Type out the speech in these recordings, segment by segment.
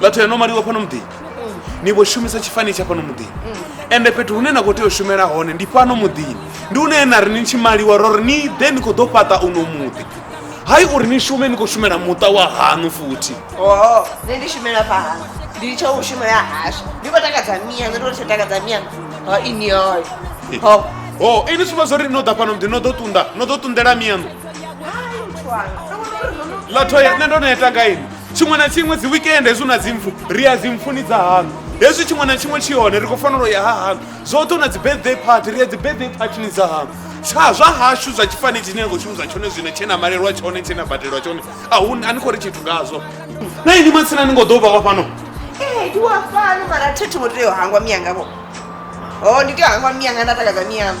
vhathu ya nomaliwa fhano muḓini ni vho shumisa tshifani tsha fhano muḓini ende fhethu hune na khou tea u shumela hone ndi fhano muḓini ndi hune na ri ni tshi maliwa ro ri ni ḓe ni khou ḓo fhaṱa uno muḓi hai uri ni shume ni khou shumela muṱa wa hanu futhi oho nṋe ndi shumela fha hanu ndi tsho u shumela hashu ndi khou takadza miya nṋe ndo tsho takadza miya ho ini hoyo ho o ini sumba zwo ri no ḓa fhano muḓini no ḓo ṱunda no ḓo ṱundela miyaṋu Hai, muthu wanga. Ndo vhona uri no no- ḽa thoya nṋe ndo no ya tanga ini tshiṅwe na tshiṅwe dzi weekend hezwi na dzi mpfu ri ya dzi mpfuni dza hanu hezwi tshiṅwe na tshiṅwe tshi hone ri khou fanela u ya ha hanu zwoṱhe na dzi birthday party ri ya dzi birthday partyni dza hanu tsha zwa hashu zwa tshifani tshine ya khou shumisa tshone zwino tshe na malelwa tshone tshe na badelwa tshone a hu a ni khou ri tshithu ngazwo na ini matsina ni ngo ḓo vha wa fhano ndi wa fhano mara thi thi ngo tea u hangwa miyangavho o ndi tea u hangwa miyanga nda takadza miyanga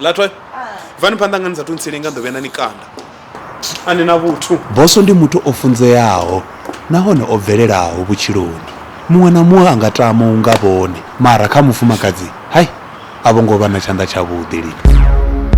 Latwa, bvani phanḓa nga ni sa thu ntsilinga nḓo vhuya na ni kanda. A ni na vhuthu. Bosso ndi muthu o funzeaho nahone o bvelelaho vhutshiloni. Muṅwe na muṅwe a nga tama u nga vhone mara kha mufumakadzi hai a vho ngo vha na tshanḓa tshavhuḓi lini.